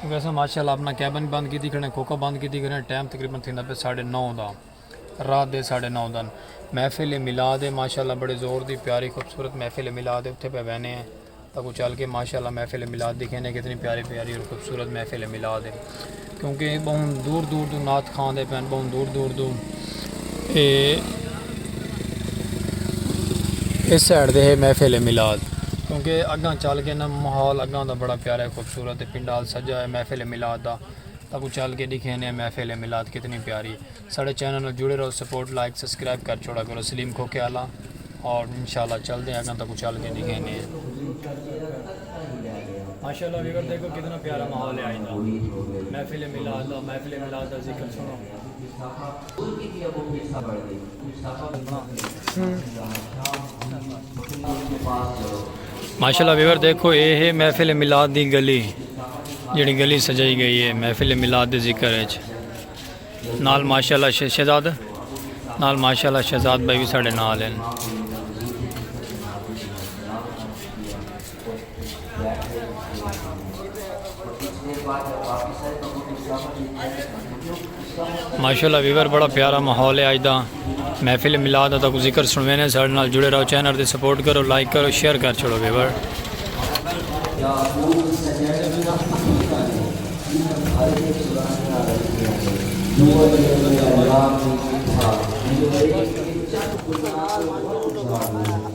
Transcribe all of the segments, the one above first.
کیونکہ اساں ماشاء اللہ اپنا کیبن بند کیتی کھڑے ہیں کوکا بند کیتی کھڑے ہیں ٹائم تقریبا تھیندا پیا ساڑھے نو دا رات دے ساڑھے نو دن محفل میلاد ہے ماشاء اللہ بڑے زور دی پیاری خوبصورت محفل میلاد ہے اتھے پہ وینے ہیں تاکو چل کے ماشاء اللہ محفل میلاد دیکھیں نے کتنی پیاری پیاری اور خوبصورت محفل میلاد ہے کیونکہ بہن دور دور دو نات خان دے پہن بہن دور دور دو اے اس سائڈ دے ہے محفل میلاد کیونکہ اگاں چل کے نا ماحول اگاں دا بڑا پیارا ہے صورت تے پنڈال سجا ہویا محفل میلاد دا تاکوں چل کے ڈیکھینے ہیں محفل میلاد کتنی پیاری ہے ساڑے چینل نال جڑے رہو سپورٹ لائک سبسکرائب کر چھوڑا کرو سلیم کھوکھے آلا اور انشاءاللہ چل دے ہیں اگاں تاکوں چل کے ڈیکھینے ہیں ماشاءاللہ ویور دیکھو کتنا پیارا ماحول ہے آئندہ محفل میلاد دا محفل میلاد دا ذکر سنو ماشاءاللہ ویور دیکھو اے ہے محفل ملاد دی گلی جڑی گلی سجائی گئی ہے محفل ملاد دی ذکر ہے نال ماشاءاللہ شہزاد نال ماشاءاللہ شہزاد بھائی بھی ساڑے نال ہیں ماشاء اللہ ویور بڑا پیارا ماحول ہے آج دا محفل ملاد دا کو ذکر سنوے نے سارے نال جڑے رہو چینل دے سپورٹ کرو لائک کرو شیئر کر چھوڑو ویور Thank you.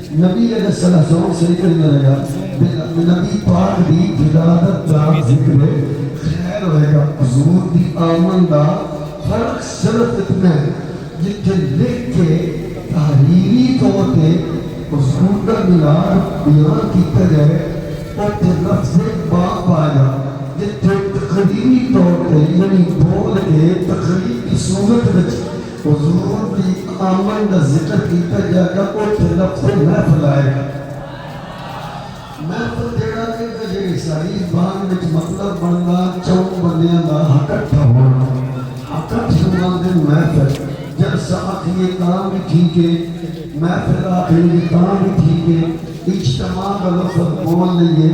نبی علیہ السلام صلی اللہ علیہ وسلم فرمایا جیڑھا نبی پاک دی ولادت دا ذکر خیر ہوئے گا حضور دی آمن دا فرق صرف اتنا ہے جتھے لکھ کے تحریری طور تے حضور دا میلاد بیان کیتا ڳئے اوتھے لفظ باب آئے گا جتھے تقریری طور تے یعنی بول کے تقریر دی صورت وچ حضور دی آمن دا ذکر کیتا گیا گا اوتھے لکھوں محفل آئے گا۔ محفل جیڑھا وی ہوندا جیڑھی ساڈی زبان وچ مطلب بندا چؤں بندیاں دا ہکٹھا ہووݨا ہکٹھ کوں آندن محفل جلسہ آکھیے تاں وی ٹھیک ہے محفل آکھ لیے تاں وی ٹھیک ہے اجتماع دا لفظ بول لئیے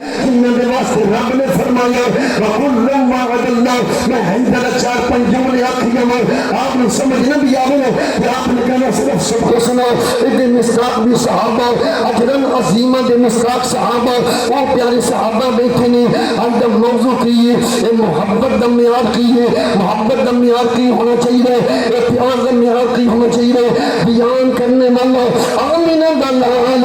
انہاں دے واسطے رب نے فرمایا وکلا وعد اللہ میں ہن دا چار پنج جملے آکھی گیا میں آپ نے سمجھ نہ دیا میں کہ آپ نے کہنا صرف سب کو سنا ادھے مستاق بھی صحابہ اجرن عظیمہ دے مستاق صحابہ وہ پیارے صحابہ بیٹھے نے ہم جب موضوع کیے اے محبت دا معیار کیے محبت دا معیار کی ہونا چاہیے اے پیار دا معیار کی ہونا چاہیے بیان کرنے والا آمینہ دا نام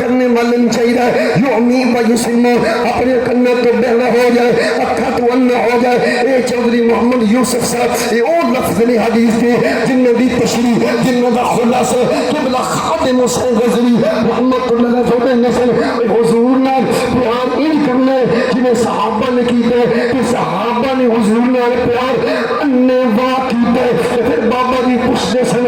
کرنے والن چاہیدا ہے یعمی و یسمع اپنے کناں تو بہلا ہو جائے اکھاں تو انا ہو جائے اے چوہدری محمد یوسف صاحب اے او لفظ نے حدیث دے جنہاں دی تشریح جنہاں دا خلاصہ قبلہ خادم حسین غزلی محمد تو لگا جوڑے نسل اے حضور نال پیار ان کرنے جنہیں صحابہ نے کیتے کہ صحابہ نے حضور نال پیار انے واقعی تے پھر بابا جی پوچھ دے سن